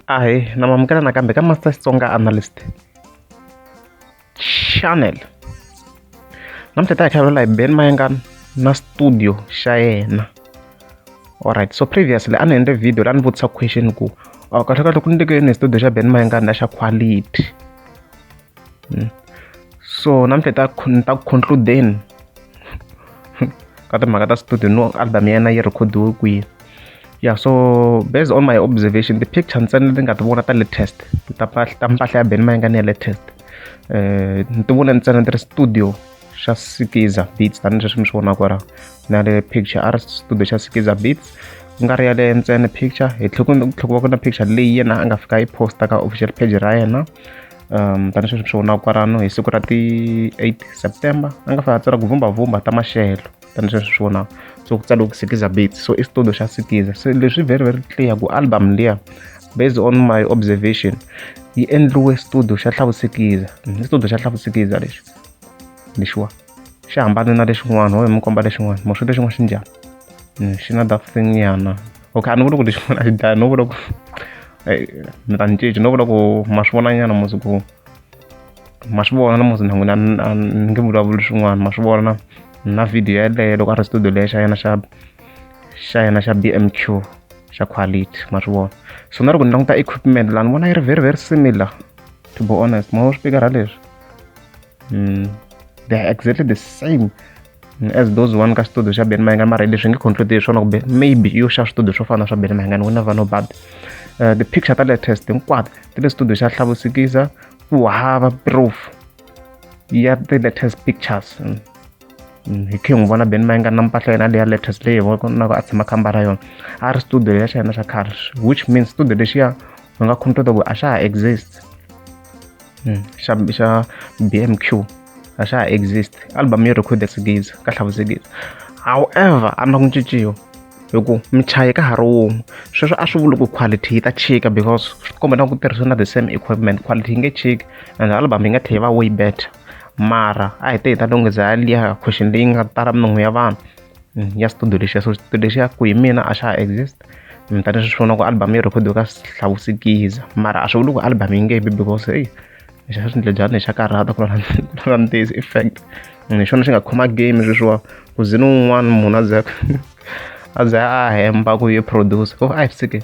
ahe na mamukela nakambe ka master xitsonga analyst channel namuntlha ta hi tlhavela hi ben mayengana na studio xa yena alright so previously a ni endle video la ni vutisa question ku oh, kahle kahle ku ni teke yini hi studio xa ben mayengana na xa quality hmm. so namuntlha ta ni ta ku concludeni ka timhaka ta studio no album ya yena yi rhekhodiwe kwihi ya so based on my observation ti-picture ntsena leti nga ti vona ta latest ta ta mpahla ya beni ma yi nga ni ya latest um ni ti vona ntsena ti ri studio xa sikiza beats tanihi leswi mi swi vonaka kwalaho na le picture a ri studio xa sikiza beats ku nga ri ya le ntsena picture hi tlhela ku tlhela ku va ku na picture leyi yena a nga fika yi posta ka official page ra yena tani sweswi swi vonaka kwalano hi siku ra ti eight September a nga fane a tsala ku vhumbavhumba ta maxelo tani sweswi swi vonaka so ku tsaliwe ku sikiza beats so i xitudio xa sikiza se leswi very very clear ku album liya based on my observation yi endliwe xitudio xa hlavusikiza xitudio xa hlavusikiza lexi lexiwa. xi hambane na lexin'wana ho hi mi komba lexin'wana mo swi lexin'wana xi njhani hmm, xi na that thing nyana okay a ni vuli ku lexin'wana a xi dlaya no vula ku mi ta ni cinci no vula ku ma swi vona nyana musi ku ma swi vona na musi na n'wina ni nge vulavuli swin'wana ma swi vona na video yeleyo loko a ri studio leyo xa yena xa xa yena xa bmq xa quality ma swi vona so na loko ni languta equipment laha ni vona yi ri very very similar to be honest ma wo swi pikara leswi mm, they are exactly the same as those one ka studio xa ben mahingani mara leswi nge conclude hi swona kumbe maybe yo xa studio swo fana swa ben mahingani wena vano bad uh, the picture ta latest hinkwato ti le studio xa hlavusikisa ku hava proof ya the latest pictures mm. Mm, hi khe n'wi vona ben ma yi nga na mpahla yena leya latest leyi hi vonaka a tshama khamba ra yona a ri studio ya xa yena xa khale which means studio lexiya u nga khumutota ku a xa ha exist hmm, xa xa BMQ a xa ha exist album yo record sigiza ka hlavusigiza however a na ku cinciwa hi ku michayi ka ha ri wun'we sweswo a swi vuli ku quality yi ta chika because swi komba na ku tirhisa na the same equipment quality yi nge chiki and album yi nga tlhe yi va way better mara a hi te hi ta lunghisa liya question leyi nga tala minongo ya vanhu mm, ya studio lexiya so studio lexiya ku hi mina a xa ha exist mm, tanihi swi vona ku album yi rhekhodiwe ka hlavusikiza mara a swi vuli ku album yi nge bi because heyi xa swi ndle njhani xa karhata ku lava ntiyisi effect mm, hi xona xi nga khoma game sweswiwa ku zini un'wana munhu a ze a ze a hemba ku yi produce ko a hi sike